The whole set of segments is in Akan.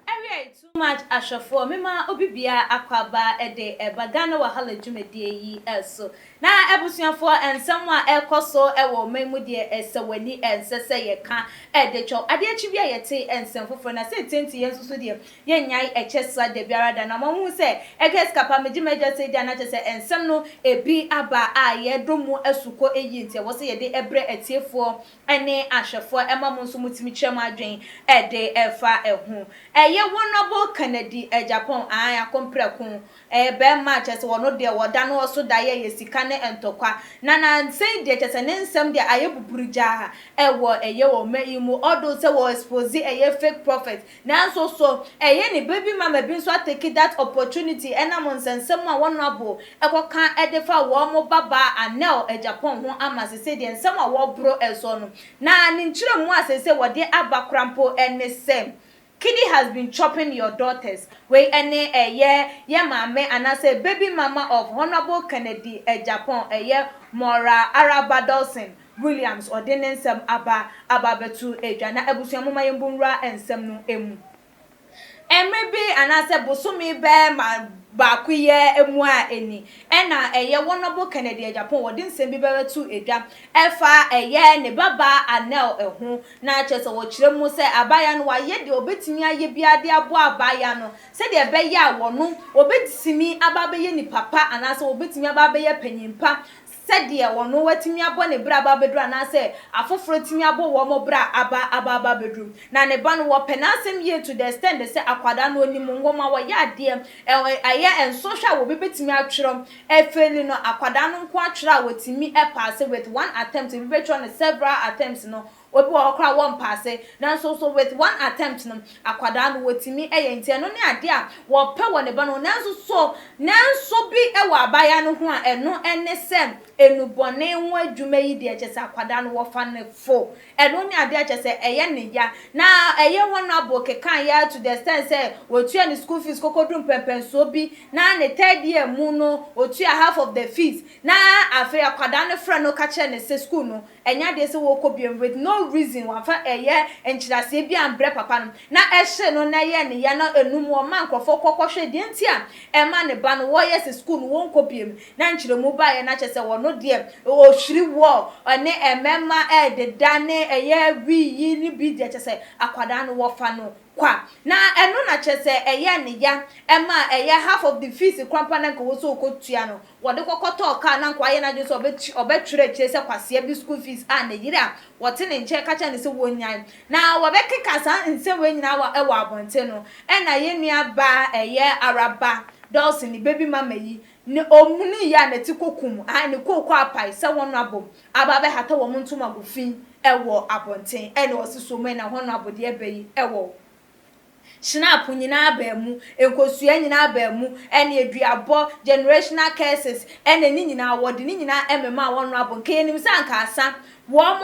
Awiei too much ahwɛfoɔ mema obi biara akwaaba de reba Ghana Wahala dwumadie yi so. Na abusuafoɔ nsɛm a ɛrekɔ so wɔ ɔman mu deɛ ɛsɛ w'ani ɛnsɛ sɛ yɛka de kyɛw. Adeɛ kye bi a yɛte nsɛm foforɔ na sɛ ɛtie nti yɛn nso so deɛ Yɛnnyae ɛkyɛ sua da biara da. Na moahu sɛ ɛka yɛ sika paa. Megye m'Agya sɛ agya, na kyerɛ sɛ nsɛm no bi aba a yɛdɔ mu asukɔ. Eyi nti ɛwɔ sɛ yɛde brɛ atiefoɔ ne ahwɛfoɔ ma mo nso motumi kyerɛ mo adwene de fa ho. Ɛyɛ Honourable Kennedy Agyapong, ae, Akompreko, ɛyɛ barima a kyerɛ sɛ ɔno deɛ ɔda no ɔso da yɛyɛ sika ne ntɔkwa. Na na sei deɛ kyerɛ sɛ ne nsɛm deɛ ayɛ buburugyaa wɔ ɛyɛ wɔn mma yi mu, although sɛ wɔ expose ɛyɛ fake prophet Nanso, so ɛyɛ ne bere bi ma ma bi nso atake that opportunity nam nsɛnsɛm a wɔn abo kɔka de fa wɔn babaa Anel Agyapong ho ama seesei deɛ nsɛm a wɔboro soɔ no, na ne nkyerɛmu a seesei wɔde aba koraa mpo ne sɛ, Kidi has been chopping your daughters, wei ne ɛyɛ yɛ maame anaasɛ baby mama of Honourable Kennedy Agyapong, ɛyɛ Maura Araba Dawson, Williams ɔde ne nsɛm aba aba abɛto dwa, na abusua momma yɛmmu nwura nsɛm no mu. Mmere bi anaasɛ bosome bɛɛma baakoyɛ mu a ɛni, ɛna ɛyɛ Wɔnɔbo Kennedy Agyapong ɔde nsɛm bi bɛbɛto dwa ɛfa ɛyɛ ne babaa Anel ho, na kyerɛ sɛ ɔkyerɛ mu sɛ abaayewa no wayɛ deɛ ɔbɛtumi ayɛ biara de aboa abaayewa no sɛdeɛ ɛbɛyɛ a wɔno ɔbɛtumi aba abɛyɛ nipa pa anaasɛ ɔbɛtumi aba abɛyɛ panin pa. sɛdeɛ ɔno watumi abɔ ne berɛ aba abɛduru anaasɛ afoforɔ atumi abɔ wɔn berɛ aba aba aba abɛduru. Na ne ba no, wɔpɛ n'asɛm yie to the extent sɛ akwadaa no ɔnim nwoma, ɔyɛ adeɛ, ɛɛ, ɛyɛ nsɔhwɛ a obi bɛtumi atwerɛ afeeli no, akwadaa no nko ara twerɛ a ɔtumi paase with one attempt, obi bɛtwerɛ no several attempts no, Obi wɔ hɔ koraa a wɔmpɛ ase, nanso nso with one attempt no, akwadaa no wɔtumi yɛ, nti ɛno ne adeɛ a wɔpɛ wɔ ne ba no ho. Nanso so nanso bi wɔ abaayaa no ho a ɛno ne sɛ nnubɔne ho adwuma yi deɛ kyerɛ sɛ akwadaa no wɔfa no fo, ɛno ne adeɛ a kyerɛ sɛ ɛyɛ ne ya. Na ɛyɛ honourable kekaeɛ ara to the extent sɛ wɔtua ne school fees kokoduru mpɛnpɛnsoɔ bi, na ne third year mu no ɔtua half of the fees, na afei akwadaa no frɛ no ka kyerɛ no sɛ school no Ɛnyɛ adeɛ sɛ wɔkɔ biom with no reason wɔnfa ɛyɛ nkyerɛaseɛ biaa mbrɛ papa no na ɛhyee no na ɛyɛɛ ne ya na ɛnum wɔma nkorɔfoɔ kɔ kɔ hwɛ deɛ nti a ɛma ne ba no wɔyɛ sɛ school no wɔnkɔ biom na nkyerɛmu baeɛ na kyɛsɛ ɔno deɛ ɔhwiri wɔ ɛne mmɛma ɛɛdeda ne ɛyɛ wii yi ne bi deɛ kyɛsɛ akwadaa no wɔfa no kwa na ɛno na kyɛsɛ ɛyɛɛ ne ya ɛma ɛyɛ half of the fees koraa mpo a na nka wɔsɛ ɔkɔ tua no Wɔde kɔkɔtɔɔ kaa no a anka wayɛ n'adwene sɛ ɔbɛkyi ɔbɛtwerɛ akyire sɛ kwasea bi school fees a ne yere a wɔte ne nkyɛn ka kyerɛɛ no sɛ wɔnnyae na wɔbɛkeka saa nsɛm wei nyinaa wɔ ɛwɔ abɔnten no ɛna yɛn nua baa ɛyɛ Araba Dawson ne baby mama yi ne ɔmuni yi a ne ti kɔkum ae ne kooko apae sɛ wɔn abom aba abɛhata wɔn ntomago fi ɛwɔ abɔnten ɛna ɔse so mɛn na wɔn abodeɛ bɛyi ɛwɔ Shinap nyinaa baa mu, nkosua nyinaa baa mu, ɛneɛ duabɔ, generational curses, ɛneɛ ne nyinaa wɔde ne nyinaa ɛmemaa wɔn no abo nka yɛnim sɛ anka asa wɔn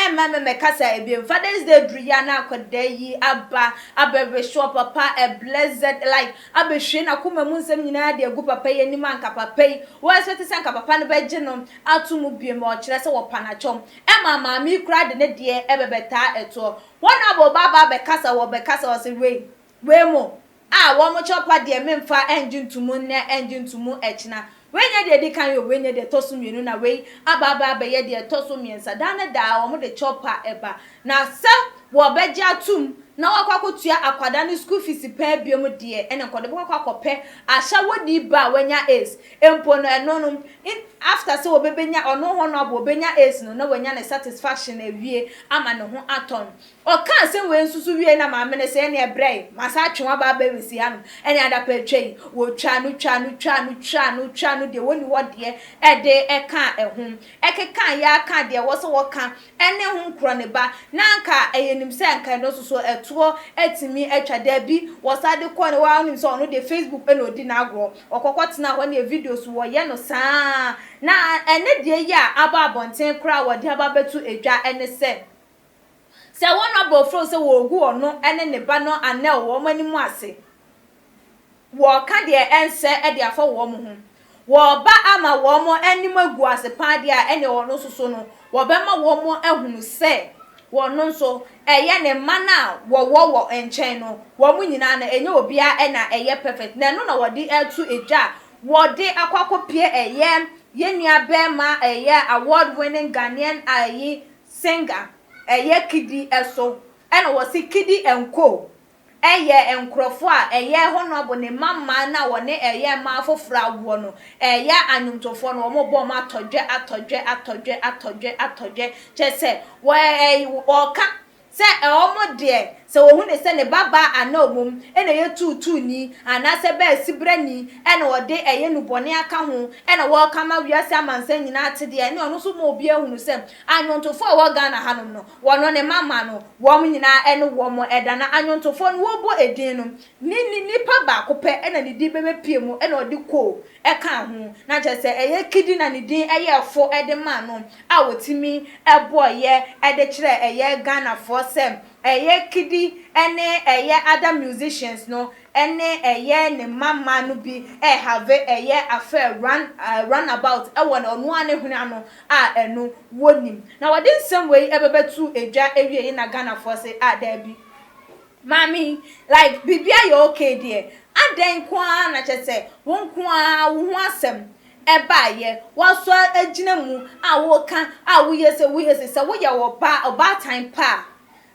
ɛmma mɛmɛ kasa ɛbiem Father's day duru yi a na akwadaa yi aba abɛ wish wɔ papa a blessed life abɛ hwie n'akoma mu nsɛm nyinaa de agu papa yi anim a nka papa yi wɔ expect sɛ nka papa no bɛgye no ato mu biem ɔkyerɛ sɛ wɔpa no akyɛw ɛmaa maame yi koraa de ne deɛ ɛbɛbɛtaa ɛtoɔ Wɔn a wɔn ba ba bɛkasa wɔ bɛkasa wɔ se wei, wei mo, a wɔn kyɛ ɔpa deɛ memfa ɛngye ntomu nnɛ ɛngye ntomu ɛkyena. Wei nyɛ deɛ ɛdi kan o, wei nyɛ deɛ ɛtɔ so mmienu na wei aba aba abɛyɛ deɛ ɛtɔ so mmiɛnsa. Daa ne daa wɔn de kyɛ ɔpa ɛba. Na sɛ wɔbɛgye atom na wɔakɔ akɔtua akwadaa no sukuu fees paa biom deɛ ɛne nkɔde bɛkɔ akɔ akɔpɛ ahyɛwodie ba a wanya Ace. Mpo no ɛno no in after sɛ ɔbɛbɛnya ɔno honourable ɔbɛnya ace no na wanya ne satisfaction awie ama ne ho atɔ no. Ɔkaa asɛm wei nso so wieɛ na maame no sɛ ɛneɛ brɛ yi masan atwe wo aba abɛ wesi ha nom ɛneɛ adapa atwa yi. Wɔtwaa no twaa no twaa no twaa no twaa no deɛ wɔnni hɔ deɛ ɛde ɛkaa ɛho. Ɛkekaeɛ ara kaa deɛ ɛwɔ sɛ wɔka ɛne ho nkorɔ ne ba, na anka ɛyɛ nim sɛ anka ɛno nso so ɛtoɔ atumi atwa. Daabi, wɔsan de kɔɔ no hɔ ara, wonim sɛ ɔno deɛ Facebook na ɔdi n'agorɔ, ɔkɔkɔ tenaa hɔ neɛ videos wɔyɛ no saa ara, na ɛnɛ deɛ yi a aba abɔnten koraa a wɔde aba abɛto dwa ne sɛ, sɛ wo nɔborɔfo frɛ wo sɛ wɔregu ɔno ne ne ba no anɛl wɔ wɔn anim ase. wɔka deɛ ɛnsɛ de afa wɔn ho, wɔba ama wɔn anim agu ase paa deɛ a, ɛneɛ wɔn nso so no, wɔbɛma wɔn ahunu sɛ wɔn nso ɛyɛ ne mma no a wɔwɔ wɔ nkyɛn no, wɔn nyinaa no, ɛnyɛ obiara na ɛyɛ perfect, na ɛno na wɔde reto dwa a wɔde akɔ akɔpie ɛyɛ yɛn nua barima ɛyɛ award winning Ghanaian ayi singer ɛyɛ Kidi so, ɛna wɔse Kidi and Co. Ɛyɛ nkurɔfoɔ a ɛyɛ Honourable ne mma mmaa no a wɔne ɛyɛ mmaa afoforɔ awoɔ no, ɛyɛ anwomtofoɔ no, wɔn bɔ wɔn atɔdwɛ, atɔdwɛ, atɔdwɛ, atɔdwɛ, atɔdwɛ, kyerɛ sɛ, wɔ ɛɛ wɔka sɛ wɔn deɛ sɛ wɔhu no sɛ ne ba baa anaa ɔmom ɛna ɛyɛ tuutuuni anaa sɛ bɛɛ sibrani ɛna ɔde ɛyɛ nubɔne aka ho ɛna wɔka ama wiase amansan nyinaa ate deɛ ɛne ɔno nso ma obiara hunu sɛ anwomtofoɔ a ɛwɔ Ghana hanom no Wɔno ne mama no, wɔn nyinaa ɛne wɔn ɛda, na anwontofoɔ no wɔbɔ edin no, ne ni, nipa baako pɛ na ne din bɛbɛpue mu, ɛna ɔde ko ɛkaa ho, na kyerɛ sɛ ɛyɛ kidi na ne din ɛyɛɛ fo ɛde maa no a wɔtumi ɛbɔeɛ ɛde kyerɛɛ ɛyɛ Ghanafoɔ sɛ ɛyɛ kidi ɛne ɛyɛ other musicians no ɛne ɛyɛ ne mama no bi ɛrehave ɛyɛ affair, run, run about ɛwɔ ɔno ara ne hwene ano a ɛno wɔnim. Na wɔde nsɛm wei ɛbɛbɛ too edwa ɛwiei na Ghanafoɔ se ah daabi maame yi like biribiara yɛ ok deɛ adɛn nko ara na kyerɛ sɛ wo nko ara wo ho asɛm ɛbaeɛ woaso agyina mu a woka a woyɛ se woyɛ se sɛ woyɛ ɔbaa ɔbaatan pa a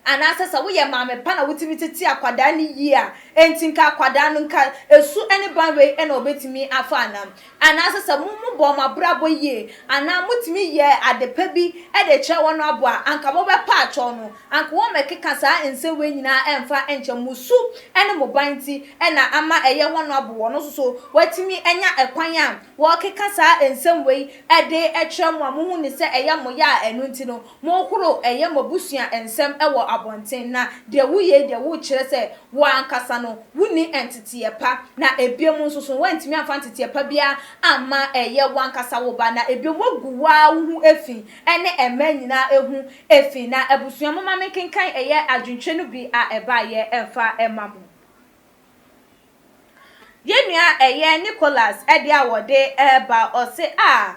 Anaasɛ sɛ woyɛ maame pa na wotumi tete akwadaa no yie a, enti nka akwadaa no nka su ne ban wei na ɔbɛtumi afa anaa? Anaasɛ sɛ mo mo bɔɔ mo abrabɔ yie anaa motumi yɛɛ ade pa bi de kyerɛɛ wɔn no aboa a, anka mobɛpa akyɛw no. Anka wɔmmɛkeka saa nsɛm wei nyinaa ɛmfa nkyɛ mo su ne mo ban nti na ama ɛyɛ wɔn no abo. Wɔn nso so wɔatumi anya ɛkwan a wɔkeka saa nsɛm wei de kyerɛ mo a mohu no sɛ ɛyɛ mo ya a ɛno nti no Monhoro ɛyɛ moabusua nsɛm wɔ abɔnten na deɛ woyɛ yi deɛ wokyerɛ sɛ wo ankasa no wonni nteteɛ pa na ebiom nsoso woantumi amfa nteteɛ pa biara amma ɛyɛ woankasa wo ba na ebiom woagu woaa woho fi ɛne ɛmmaa nyinaa ho fi na abusua momma menkenkan ɛyɛ adwentwerɛ no bi a ɛbaeɛ mfa mma mo. Yɛnua ɛyɛ Nicholas deɛ a wɔde reba ɔse a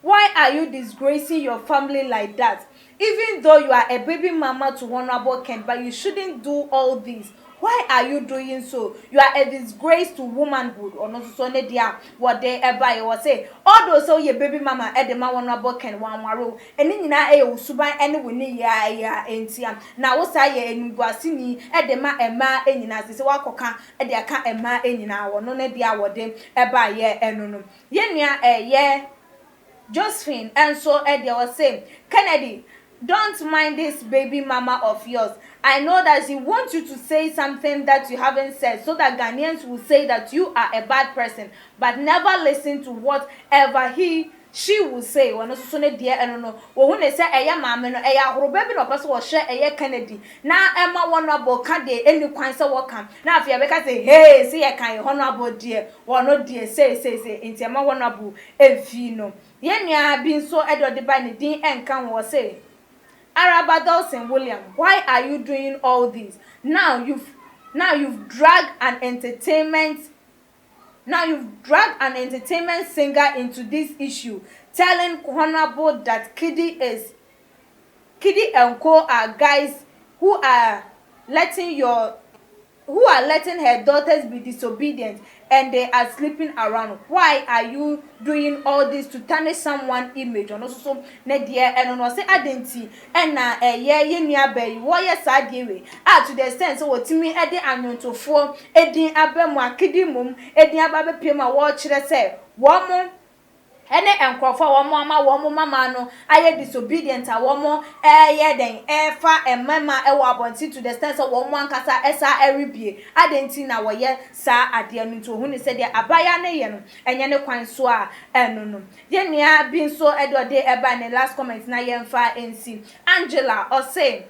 Why are you disgracing your family like that even though you are a baby mama to honourable Kent but you shouldn't do all these why are you doing so you are a disgrace to womanhood ɔno nso so ne deɛ a wɔde baeɛ ɔse although sɛ woyɛ baby mama de ma honourable Kent wanware wo ɛno nyinaa yɛ wo suban ne wo nneyɛeɛ ntia na wosan yɛ animguaseni de ma mmaa nyinaa sese woakɔka de aka mmaa nyinaa ɔno ne deɛ a wɔde baeɛ no no Yɛn nua ɛyɛ Josephine nso deɛ ɔse Kennedy don't mind this baby mama of yours I know that she want you to say something that you haven't said so that Ghanaians will say that you are a bad person but never listen to what ever he she will say ɔno nso so ne deɛ ɛno no wɔhu ne sɛ ɛyɛ maame no ɛyɛ ahoroba bi na ɔpɛ sɛ wɔhwɛ ɛyɛ Kennedy na ɛma wɔn abɔ ka deɛ ɛnni kwan sɛ wɔka na afei ɛbɛka sɛ hee se yɛkae honourable deɛ Wɔ no deɛ sei sei sei nti ɛma wɔn abu ɛmfii no. Yɛn nua bi nso deɛ ɔde bae ne din ɛnka ho ɔse, Araba Dawson William why are you doing all these now you've now you've drag an entertainment now you've drag an entertainment singer into this issue telling Honourable that Kiddy is Kidi and co are guys who are letting your who are letting her daughters be disobedient and they are sleeping around why are you doing all this to tarnish someone image ɔno nso so ne deɛ ɛno no ɔse adɛn nti ɛna ɛyɛ yɛ nuabaa yi wɔyɛ saa adeɛ wei a to the extent sɛ wɔtumi ɛde anwontofoɔ ɛdin aba mu a Kidi mmom ɛdin aba abɛpie mu a wɔkyerɛ sɛ wɔn ne nkurɔfo a wɔama wɔn mmammaa no ayɛ disobedient a wɔreyɛ dɛn refa mmarima wɔ abɔnten to the extent sɛ wɔn ankasa san rebue adɛn nti na wɔyɛ saa adeɛ no nti wɔhu no sɛ deɛ abaayewa no reyɛ no ɛnyɛ ne kwan so a ɛno no yɛn nua bi nso deɛ ɔde bae ne last comment na yɛmfa nsi Angela ɔse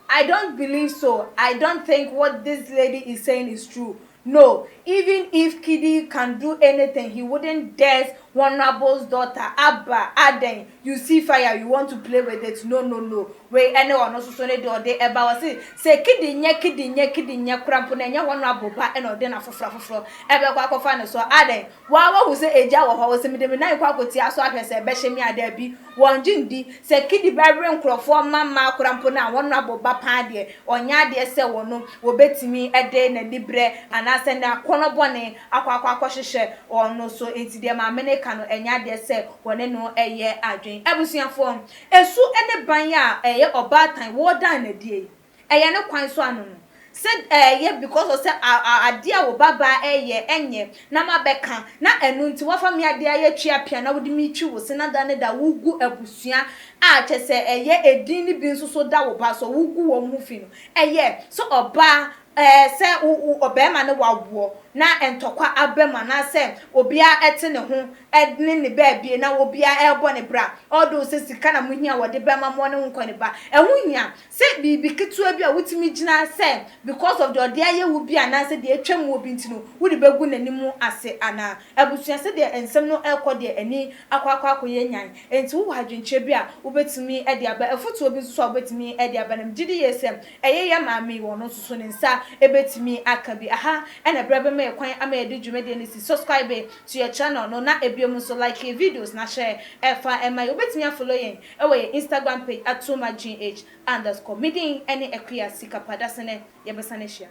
I don't believe so I don't think what this lady is saying is true no even if kidi can do anything he wouldn't dirs honourable's daughter abba adɛn you see fire you want to play with it no no no wei ɛne ɔno soso ne deɛ ɔde ɛba ɔse sɛ kidi nyɛ kidi nyɛ kidi nyɛ kora mpo na ɛnyɛ honourable ba ɛna ɔde na foforɔ afoforɔ ɛbɛkɔ akɔfa ne so adɛn waa wahu sɛ agya wɔ hɔ ɔse mede me nan kɔ akɔtia so ahwɛ sɛ ɛbɛhye me a daabi Wɔgye ndi sɛ Kidi bɛwe nkorɔfoɔ mma mmaa kora mpo no a wɔabɔ ba paa deɛ, ɔnyɛ adeɛ sɛ wɔn wɔbɛtumi de n'aniberɛ anaasɛ n'akɔnnɔ bɔne akɔ akɔ akɔhyehyɛ wɔn so. Enti deɛ maame no reka no, ɛnyɛ adeɛ sɛ wɔne no yɛ adwene. Abusuafoɔ, su ne ban a ɛyɛ ɔbaatan wɔredan no adie yi, Ɛyɛ ne kwan so ano no. Sɛ ɛyɛ because of sɛ adeɛ a wo babaa ɛyɛ ɛnyɛ na ma bɛka na ɛno nti wafa me adeɛ ayɛ twea pea na wode me twi wo se na da ne da wo gu abusua a kyɛ sɛ ɛyɛ ɛdin ne bi nso so da wo ba so wo gu wɔn ho fi no ɛyɛ sɛ ɔbaa ɛɛ sɛ wo wo ɔbarima ne wa woɔ na ntɔkwa aba mu anaa sɛ obiara ɛte ne ho ɛne ne baabie na obiara ɛbɔ ne bra although sɛ sika na mo hia wɔde bɛma mo ɔne wo nkɔ ne ba ɛho hia Sɛ biribi ketewa bi a wotumi gyina sɛ because of deɛ ɔde ayɛ wo bi anaasɛ deɛ atwa mu wɔ bi nti no wode bɛgu n'anim ase anaa? Abusua sɛdeɛ nsɛm no rekɔ deɛ ani akɔ akɔ akɔyɛ nyan enti wowɔ adwenkyerɛ bi a wobɛtumi de aba? Afotuo bi nso so a wobɛtumi de aba na megye di yie sɛ ɛyɛ yɛn maame yi ɔno nso so ne nsa bɛtumi aka bi. Aha na berɛ bɛma yɛn kwan ama yɛde dwumadie no asi. Subscribe to your channel no na bio nso like yɛn videos na hyɛ fa ma yɛn. Wobɛtumi a follow yɛn. Ɛwɔ yɛn Instagram page at Somagynh underscore. Me din ɛne Akua Sikapadasene. Yɛbɛsan ahyia.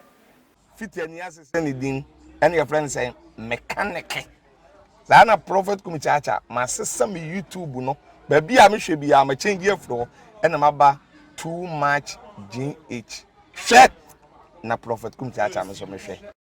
Fiti ani ase sɛ ne din ɛne yɛfrɛ no sɛn? Mekaneke. Saa na Prophet Kumi Kyakya masesa me YouTube no baabi a mehwɛ biara ma change afiri hɔ ɛna maba Too Much Gynh. Hwɛ na Prophet Kumi Kyakya me nso mehwɛ.